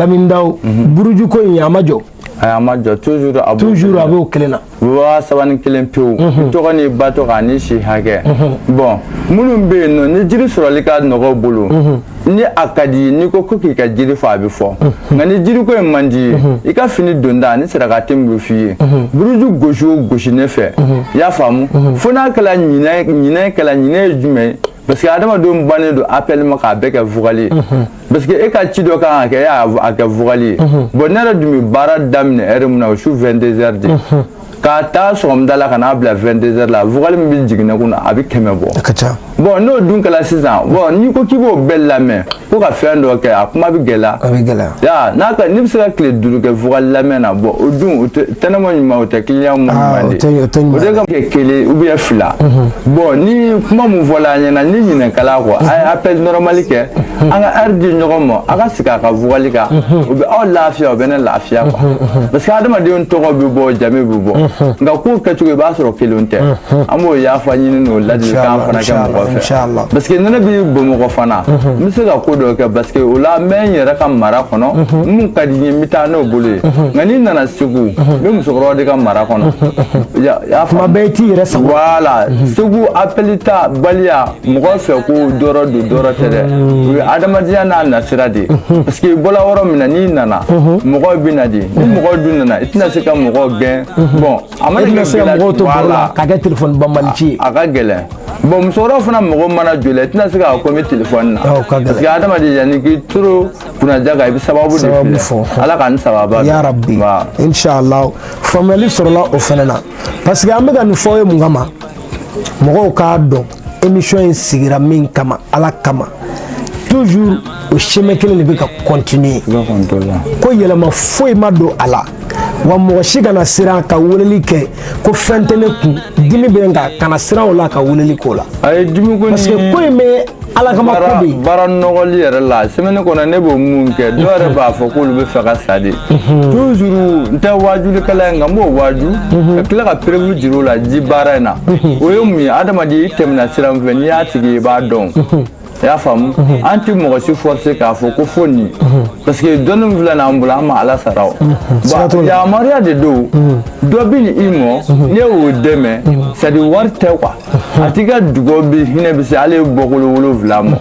S1: lamini dawu burujuko in a ma jɔ ayi a ma
S2: jɔ toujours a b'o toujours a b'o kelen
S1: na waa saba ni
S2: kelen pewu mhm. i tɔgɔ n'i ba tɔgɔ ani si hakɛ mhm. bon minnu bɛ yen nɔ ni jiri sɔrɔli ka nɔgɔ bolo mhm. ni a ka di ye n'i ko ko k'i ka jiri fɔ a bɛ fɔ nka ni jiri ko in man di ye i ka fini donta ani sarakati min bɛ f'i ye buruju gosi o gosi ne fɛ i y'a faamu fo n'a kɛla ɲinɛ ɲinɛ kɛla ɲinɛ ye jumɛn ye parce que adamadenw bannen don appel ma k'a bɛɛ kɛ vocal parce que e ka ci dɔ kan ka kɛ e y'a kɛ vocal ye bon ne yɛrɛ dun bɛ baara daminɛ heure min na o su 22 heures de ka taa sɔgɔmada la ka n'a bila 22 heures la vocal min bɛ jigin ne kun na a bɛ kɛmɛ bɔ a ka ca bon n'o dun kɛra sisan bon n'i ko k'i b'o bɛɛ lamɛn ko ka fɛn dɔ kɛ a kuma bɛ gɛlɛya a bɛ gɛlɛya ya n'a ka n'i bɛ se ka tile duuru kɛ vocal lamɛn na bon o dun o tɛ tɛ ne mɔ ɲuman o tɛ client mɔ ɲuman de o tɛ o tɛ ɲuman o tɛ ka kɛ kelen ou bien fila bon ni kuma mun fɔla an ɲɛna ni ɲinɛ kɛla kɔ a ye appel normal kɛ an ka heure di ɲɔgɔn ma a ka sigi a ka vocal kan o bɛ aw lafiya o bɛ ne lafiya quoi parce que adamadenw tɔgɔ bɛ bɔ jamu bɛ bɔ nka ko kɛcogo i b'a sɔrɔ kelen tɛ an b'o yafa ɲini n'o ladilikan fana kɛ mɔgɔ fɛ parce que ne bɛ bamakɔ fana n bɛ se ka ko dɔ kɛ parce que o la n bɛ n yɛrɛ ka mara kɔnɔ mun ka di n ye n bɛ taa n'o bolo ye nka n'i nana segu n bɛ musokɔrɔba de ka mara kɔnɔ tuma
S1: bɛɛ i t'i yɛrɛ sago voilà segu
S2: appel tabaliya mɔgɔ fɛ ko dɔrɔ don dɔrɔ tɛ dɛ o ye adamadenya n'a nasira de ye parce que i bɔla yɔrɔ min na n'i nana mɔgɔw bɛ na de ni mɔgɔw dun nana i tɛna se ka mɔgɔw gɛn bon a
S1: mana kɛ se ka mɔgɔw to baro la ka kɛ téléphone banbali ci ye a ka gɛlɛn
S2: bon musokɔrɔba fana mɔgɔ mana jɔ la i tɛna se ka kuma téléphone na parce que adamaden yanni k'i turu kunnaja kan i bɛ sababu de filɛ ala ka ni sababa yarabi
S1: inshallah faamuyali sɔrɔla o fana na parce que an bɛ ka nin fɔ ye mun kama mɔgɔw k'a dɔn émission in sigira min kama ala kama toujours o chemin kelen de bɛ ka continuer ko yɛlɛma foyi ma don a la wa mɔgɔ si kana siran ka weleli kɛ ko fɛn tɛ ne kun dimi bɛ n kan kana siran o la ka weleli k'o la parce que ko in bɛ ala kama ko bɛ yen baara nɔgɔli yɛrɛ
S2: la semaine kɔnɔ ne b'o mun kɛ dɔw yɛrɛ b'a fɔ k'olu bɛ fɛ ka sa de toujours n tɛ waajulikɛla ye nka n b'o waaju ka tila ka preuve jira o la ji baara in na o ye mun ye adamaden i tɛmɛna sira min fɛ n'i y'a tigi ye i b'a dɔn i y'a faamu an tɛ mɔgɔ si forcé k'a fɔ ko fo nin parce que dɔnni min filɛ n'an bolo an ma ala sara o bon yamaruya de don dɔ bɛ na i mɔ n'i y'o dɛmɛ c'est à dire wari tɛ quoi a tigi ka dugawu bɛ hinɛ bɛ se hali i bɔkolo wolonwula mɔ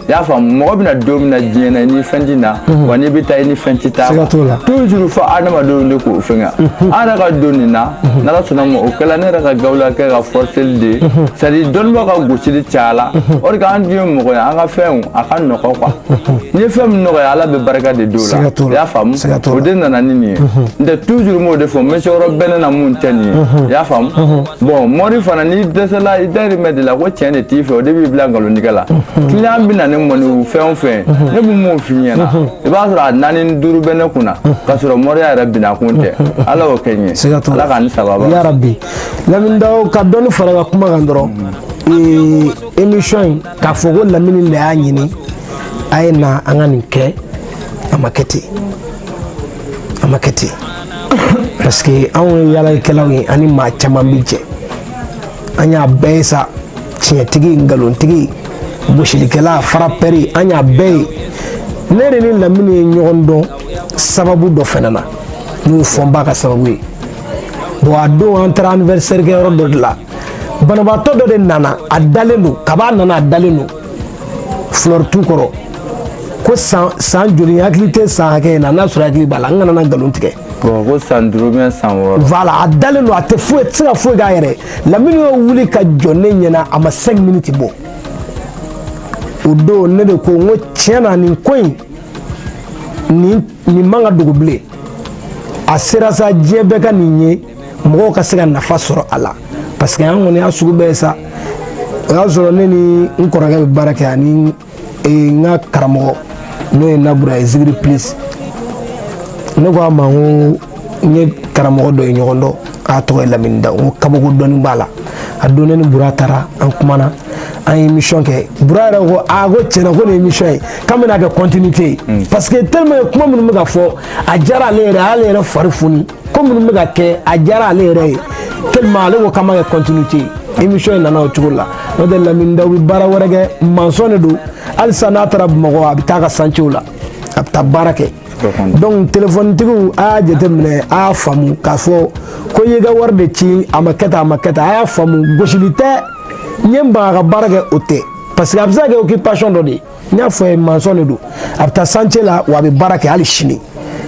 S2: i y'a faamu mɔgɔ bɛna don min na diɲɛ na i ni fɛn tɛ na wa n'i bɛ taa i ni fɛn tɛ taa toujours fo adamadenw de k'o fɛn kɛ an yɛrɛ ka don nin na n'ala sɔnna ma o kɛla ne yɛrɛ ka gawula kɛ ka forceli de ye c'est à dire dɔnnibaaw ka gosili cayala o de k'an dun ye mɔgɔ ye an ka fɛnw a ka nɔgɔ quoi n'i ye fɛn min nɔgɔya ala bɛ barika de don a la i y'a faamu o de nana ni nin ye n tɛ toujours n b'o de fɔ n bɛ se yɔrɔ bɛɛ ne na mun tɛ nin ye i y'a faamu. bon mori fana n'i dɛsɛla i dayirimɛ de la ko tiɲɛ de t'i fɛ o de b'i bila nkalontigɛ la client bɛ na ne ma ni fɛn o fɛn ne bɛ mun f'i ɲɛna i b'a sɔrɔ a naani ni duuru bɛ ne kun na k'a sɔrɔ moriya yɛrɛ binna kun tɛ ala y'o kɛ n ye ala k'an ni sababa
S1: yarabi lamini dawo ka dɔɔni far'a ka kuma kan dɔrɔn émission in k'a fɔ ko lamini de y'a ɲini a ye na an ka nin kɛ a ma kɛ ten a ma kɛ ten parce que anw ye yaalakɛlaw ye ani maa caman bɛ jɛ an y'a bɛɛ ye sa tiɲɛtigi nkalontigi gosilikɛla farapɛri an y'a bɛɛ ye ne yɛrɛ ni lamini ye ɲɔgɔn dɔn sababu dɔ fana na n'o ye fɔnba ka sababu ye bon a don an taara anniversaire kɛ yɔrɔ dɔ de la banabaatɔ dɔ de nana a dalen don kab'a nana a dalen don fleur tu kɔrɔ ko san san joli hakili tɛ san hakɛ in na n'a sɔrɔ hakili b'a la n kana na nkalon tigɛ ko san duuru
S2: bien san wɔɔrɔ voilà a dalen don a
S1: tɛ foyi tɛ se ka foyi k'a yɛrɛ lamini y'o wuli k'a jɔ ne ɲɛna a ma cinq minutes bɔ o don ne de ko n ko tiɲɛ na nin ko in nin nin man ka dogo bilen a sera sa diɲɛ bɛɛ ka nin ye mɔgɔw ka se ka nafa sɔrɔ a la parce que an kɔni y'a sugu bɛɛ ye sa o y'a sɔrɔ ne ni n kɔrɔkɛ bɛ baara kɛ ani e, n ka karamɔgɔ n'o ye nabura ye zigiri plus ne ko a ma n ko n ye karamɔgɔ dɔ ye ɲɔgɔn dɔn k'a tɔgɔ ye lamini dawo n ko kabako dɔɔni b'a la a don ne ni bura taara an kumana an ye émission kɛ bura yɛrɛ ko a ah, ko tiɲɛna ko nin émission ye k'an bɛn'a kɛ continuité ye mm. parce que tellement kuma minnu bɛ ka fɔ a diyara ale yɛrɛ a y'ale yɛrɛ fari foni ko minnu bɛ ka kɛ a diyara ale yɛrɛ ye tellement ale ko k'an b'a kɛ continuité ye émission in nana o cogo la n'o tɛ lamini dawo bɛ baara wɛrɛ kɛ maçon de don halisa n'a taara bamakɔ a bɛ taa ka chantier la a bɛ taa baara kɛ donc telefonitigiw a y'a jateminɛ a y'a faamu k'a fɔ ko i y'i ka wari de ci a ma kɛ tan a ma kɛ tan a y'a faamu gosili tɛ n ye n ban a ka baara kɛ o tɛ parce que a bɛ se ka kɛ occupation dɔ de ye n y'a fɔ ye maçon de don a bɛ taa chantier la wa a bɛ baara kɛ hali sini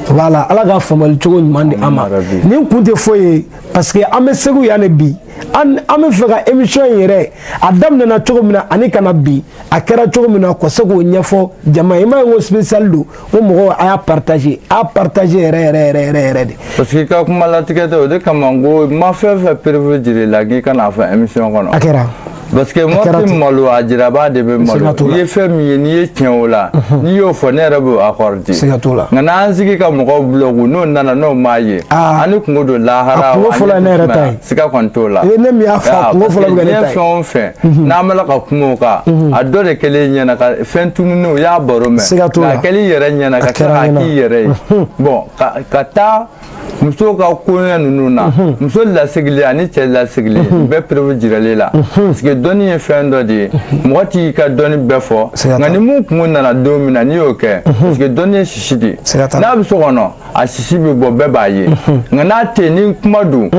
S1: voilà ala ka faamuyali cogo ɲuman di an ma nin kun tɛ foyi ye parce que an bɛ segu yan de bi an an b'a fɛ ka émission in yɛrɛ a daminɛna cogo min na ani ka na bi a kɛra cogo min na ka se k'o ɲɛfɔ jama ye i m'a ye ko spécial don o mɔgɔw a y'a partager a partager yɛrɛ yɛrɛ yɛrɛ yɛrɛ yɛrɛ de. parce que i ka kuma
S2: latigɛ tɛ o de kama n ko n ma fɛn fɛn préféré jir'i la k'i kan'a fɔ émission kɔnɔ. a kɛra. parce
S1: que mɔgɔ tɛ
S2: malo a jirabaa de bɛ malo n'i ye fɛn min ye n'i ye tiɲɛ o la n'i y'o fɔ ne yɛrɛ b'o accorder nka n'an sigi ka mɔgɔw blaguer n'o nana n'o m'a ye an ni kunko don lahara ani fɛn fɔlɔ ye ne yɛrɛ ta ye.
S1: siga kɔni t'o la
S2: ne min y'a fɔ
S1: kungo fɔlɔ bɛ kɛ ne ta ye fɛn o fɛn mhm.
S2: n'an bɛ la ka kuma o kan mhm. a dɔ de kɛlen ɲɛna ka fɛn tununi o y'a baro mɛn nka kɛli yɛrɛ ɲɛna ka kɛ k'a k'i yɛrɛ ye mhm. bon ka taa muso ka koɲɛ ninnu na muso lasigilen ani cɛ lasigilen u bɛɛ preuve jiralen la parce que dɔnni ye fɛn dɔ de ye mɔgɔ t'i ka dɔnni bɛɛ fɔ nka ni mun kungo nana don min na n'i y'o kɛ parce que dɔnni ye sisi de ye n'a bɛ so kɔnɔ a sisi bɛ bɔ bɛɛ b'a ye nka n'a tɛ ni kuma don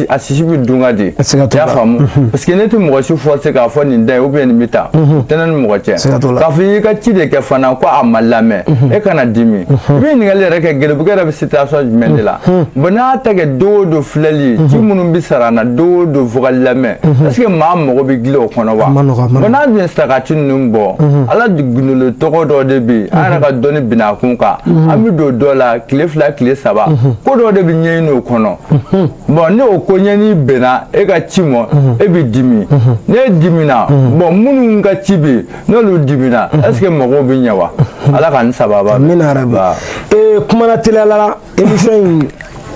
S2: a sisi bɛ dun ka di i y'a faamu parce que ne tɛ mɔgɔ si forcer k'a fɔ nin da ye ou bien nin bɛ taa tɛnɛ ni mɔgɔ cɛ k'a fɔ i y'i ka ci de kɛ fana ko a ma lamɛn e kana dimi i bɛ ɲininkali yɛrɛ kɛ gɛlɛbugu yɛrɛ bɛ situation jumɛn de la bon n'a tɛ kɛ don o don filɛli ci minnu bɛ sara na don o don fo ka lamɛn est ce que maa mago bɛ gilan o kɔnɔ wa bon n'a dun ye saraka ci ninnu bɔ ala gundo tɔgɔ dɔ de bɛ yen an yɛrɛ ka dɔnni bina kun kan mhm. an bɛ don dɔ la tile fila tile saba mhm. ko dɔ de bɛ ɲɛɲini o kɔnɔ mhm. bon ne o ko ɲɛɲini bɛnna e ka ci ma e bɛ dimi ne dimina bon minnu ka ci bɛ yen n'olu dimina est ce que mɔgɔw bɛ ɲɛ wa ala ka n sababa. amina yarabi
S1: ee kumana teliyala. émission in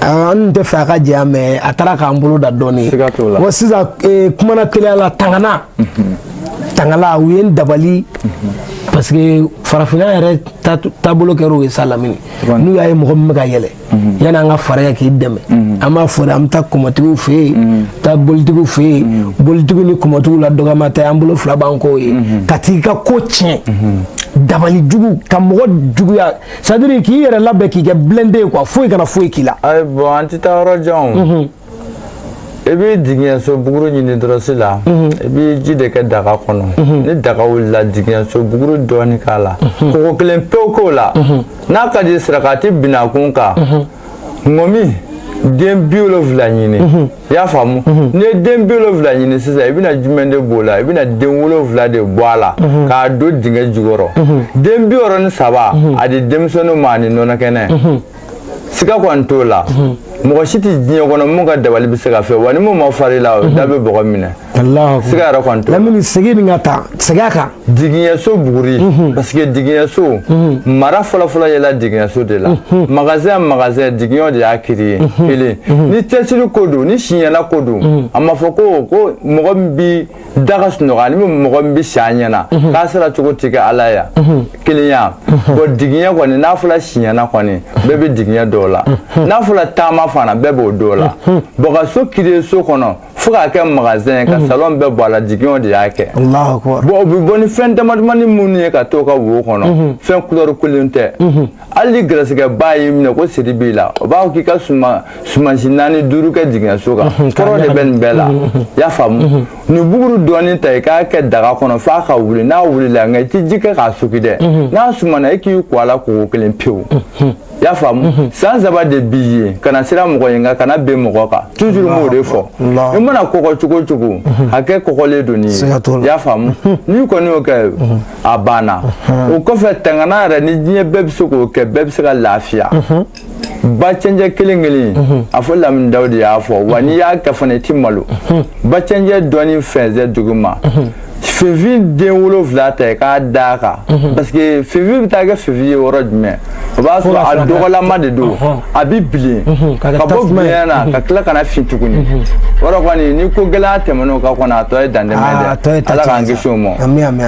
S1: an tɛ fɛ a ka janya mais a taara k'an bolo dan dɔɔni wa sisan kumana teliya la tangana tangala u ye n dabali parce que farafinna yɛrɛ taabolo kɛra o ye sa lamini n'u y'a ye mɔgɔ min bɛ ka yɛlɛ yanni an ka fariya k'i dɛmɛ an b'a fɔ de an bɛ taa kɔmɔtigiw fɛ yen taa bolitigiw fɛ yen bolitigiw ni kɔmɔtigiw la dɔgɔman tɛ an bolo fila b'an k'o ye ka t'i ka ko tiɲɛ dabali jugu ka mɔgɔ juguya c'est à dire k'i yɛrɛ labɛn k'i kɛ blindé ye quoi foyi kana foyi k'i la ayi bon an tɛ
S2: taa yɔrɔ jan i bɛ digiɲɛso buguru ɲini dɔrɔsi la i bɛ ji de kɛ daga kɔnɔ ni daga wulila digiɲɛso buguru dɔɔni k'a la kɔgɔ kelen pewu k'o la n'a ka di sarakati binakun kan ŋɔmi den bi wolonwula ɲini i y'a faamu n'i ye den bi wolonwula ɲini sisan i bɛna jumɛn de b'o la i bɛna den wolonwula de bɔ a la k'a don dingɛ jukɔrɔ den bi wɔɔrɔ ni saba a di denmisɛnninw ma ani nɔnɔ kɛnɛ siga kɔni t'o la mɔgɔ si tɛ diɲɛ kɔnɔ mun ka dabali bɛ se ka fɛ wa ni mun ma far'i la o da bɛ bɔgɔ minɛ siga yɛrɛ kɔni t'o la lamini segin nin ka
S1: taa segin a kan digiɲɛso
S2: buguri mhm. parce que digiɲɛso mhm. mara fɔlɔfɔlɔ yɛla digiɲɛso de la mhm. magasin magasin digiɲɛw de y'a créé kelen ni cɛsiri ko don ni siɲɛna ko don a ma fɔ ko ko mɔgɔ min bi da ka sunɔgɔ ani mɔgɔ min bi si a ɲɛna k'a sara cogo ti kɛ ala ya kelenya bon digiɲɛ kɔni n'a fɔla siɲɛna kɔni bɛɛ bɛ digiɲɛ dɔn o la n'a fɔla taama fana bɛɛ b'o dɔn o la bon ka so créer so kɔnɔ fo k'a kɛ magasin ka mhm. salon bɛɛ bɔ a la jigiɲɛw de y'a kɛ bon o bɛ bɔ ni fɛn damadamani minnu ye ka to ka wo kɔnɔ mhm. fɛn couleur kelen tɛ mhm. hali ni gɛrɛsɛgɛba y'i minɛ ko siri b'i la o b'a fɔ k'i ka suma sumansi naani duuru kɛ jigiɲɛso kan kɔrɔ de bɛ nin bɛɛ la i y'a faamu nin buguru dɔɔni ta i k'a kɛ daga kɔnɔ f'a ka wuli n'a wulila nka i tɛ ji kɛ k'a suki dɛ n'a sumana i k'i ko a la koko kelen pewu i y'a faamu mhm. san saba de b'i ye kana siran mɔgɔ ɲɛ nka kana ben mɔgɔ kan toujours n b'o de fɔ i mana kɔgɔ cogo o cogo mhm. hakɛ kɔgɔlen don n'i ye i y'a faamu mhm. n'i kɔni y'o kɛ a banna o kɔfɛ tangana yɛrɛ ni diɲɛ bɛɛ bɛ se k'o kɛ bɛɛ bɛ se ka lafiya ba cɛncɛn kelen kelen a fɔ lamini daw de y'a fɔ wa n'i y'a kɛ fana i ti malo ba cɛncɛn dɔɔni fɛnsɛn duguma finfin den wolonfila ta k'a d'a kan mhm. parce que finfin bɛ taa kɛ finfin ye yɔrɔ jumɛn o b'a sɔrɔ a dɔgɔlama de don a bɛ bilen mhm, ka bɔ bilen na ka tila ka na fin tuguni mhm. yɔrɔ kɔni ni ko gɛlɛya tɛmɛn'o kan kɔni a tɔ ye dantɛmɛ ah, dɛ ala k'an kisi o ma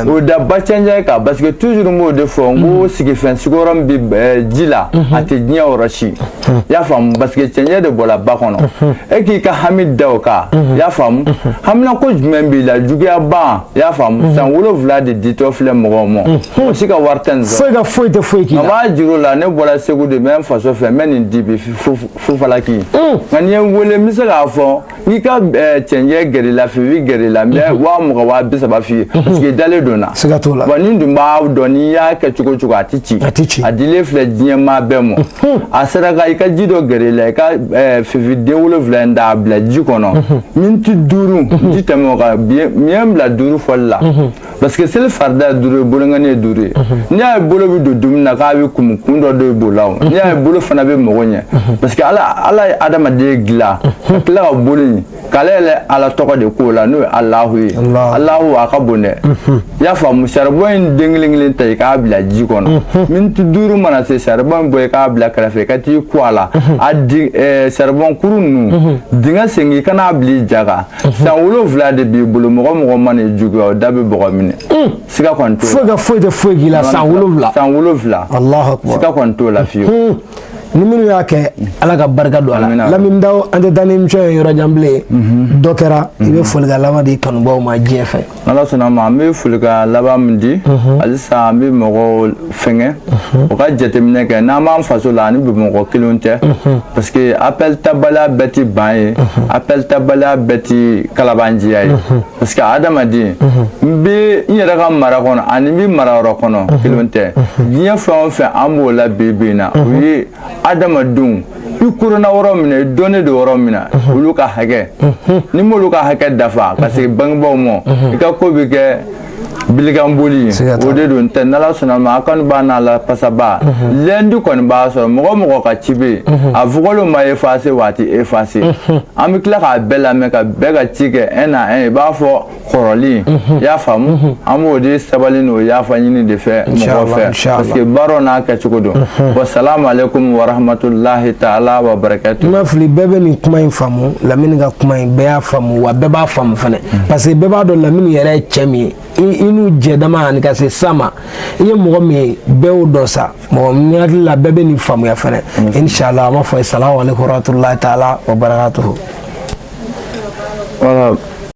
S2: o da ba cɛncɛn kan parce que toujours n b'o de fɔ n ko sigifɛn sigiyɔrɔ min bɛ eh, ji la a tɛ diɲɛ yɔrɔ si i y'a faamu parce que cɛncɛn de bɔra ba kɔnɔ e k'i ka hami da o kan i y'a faamu haminanko jumɛn b'i la juguya ban i y'a faamu san wolonwula de ditɔ filɛ mɔgɔw ma o si ka wari tɛ nin sɔrɔ foyi ka foyi tɛ foyi k'i la nka
S1: n b'a jira u la ne
S2: bɔra segu de n bɛ n faso fɛ n bɛ nin di bi fu falaki nka n'i ye n wele n bɛ se k'a fɔ i ka cɛncɛn gɛrɛ la finfin gɛrɛ la n bɛ waa mugan waa bi saba f'i ye parce que i dalen don n na siga t'o la wa ne dun b'a dɔn n'i y'a kɛ cogo o cogo a tɛ ci a tɛ ci a dilen filɛ diɲɛ maa bɛɛ ma a saraka i ka ji dɔ gɛrɛ la i ka finfin den wolonwula in ta a bila ji kɔnɔ miniti duuru ji tɛmɛ o kan mun ye n bila duuru fɔli la parce que seli farida ye duuru ye bolonkɔni ye duuru ye n'i y'a ye bolo bɛ don dumuni na k'a bɛɛ kumu kun dɔ de b'o la o n'i y'a ye bolo fana bɛ mɔgɔ ɲɛ parce que ala ala ye adamaden dilan ka tila ka bolo in k'ale yɛrɛ ala tɔgɔ de k'o la n'o ye alahu ye alahu a ka bon dɛ i y'a faamu saribɔn in den kelen kelen ta i k'a bila ji kɔnɔ miniti duuru mana se saribɔn in bɔ i k'a bila kɛrɛfɛ i ka t'i ko a la a saribɔn kuru ninnu dingɛ sen i kan'a bila i ja kan san wolonwula de b'i bolo mɔgɔ o mɔgɔ mana i juguya o da bɛ bɔgɔ minɛ siga kɔni t'o la foyi ka foyi tɛ foyi k'i
S1: la
S2: san
S1: wolonwula
S2: san
S1: wolonwula Alahu
S2: akbar
S1: siga kɔni
S2: t'o la
S1: fiyewu ni minnu y'a kɛ ala ka barika don a la Amina. lamini daw an tɛ taa ni émission ye yɔrɔ jan bilen dɔ kɛra i bɛ folikan laban di kanubaw ma diɲɛ fɛ ala sɔnna ma an
S2: bɛ folikan laban min di mhm. halisa an bɛ mɔgɔw fɛngɛ mhm. u ka jateminɛ kɛ n'an b'an faso la ani bamakɔ kelenw tɛ mhm. parce que appel tabaliya bɛɛ ti ban ye appel tabaliya bɛɛ ti kalabanjiya ye parce que adamaden n bɛ n yɛrɛ ka mara kɔnɔ ani n bɛ mara wɛrɛ kɔnɔ kelenw tɛ diɲɛ fɛn o fɛn an b'o la bi bi in na o ye adamadenw i ko dɔnna yɔrɔ min na i dɔnnen don yɔrɔ min na olu ka hakɛ n'i m'olu ka hakɛ dafa ka segin bangebaaw ma i ka ko bɛ kɛ bilikan boli o de don tɛ n'ala sɔnna ma a kɔni b'a n'a la pasaba lundi kɔni b'a sɔrɔ mɔgɔ mɔgɔ ka ci bɛ yen a vocal ma effacer waati effacer an bɛ tila k'a bɛɛ lamɛn ka bɛɛ ka ci kɛ un à un i b'a fɔ kɔrɔlen i y'a faamu an b'o de sabali n'o yafa ɲini de fɛ mɔgɔ fɛ parce que baara n'a kɛcogo don wa salamu aleykum wa rahmatulahi taala wa barakatu n ma fili bɛɛ bɛ
S1: nin kuma in faamu lamini ka kuma in bɛɛ y'a faamu wa bɛɛ b'a faamu fana parce que bɛɛ b'a dɔn lamini yɛrɛ ye cɛ min ye i n'u jɛdama ani ka se sa ma i ye mɔgɔ min ye bɛɛ y'o dɔn sa mɔgɔ min hakili la bɛɛ bɛ nin faamuya fana inshallah an b'a fɔ salamu aleykum wa rahmatulahi taala wa barakatu.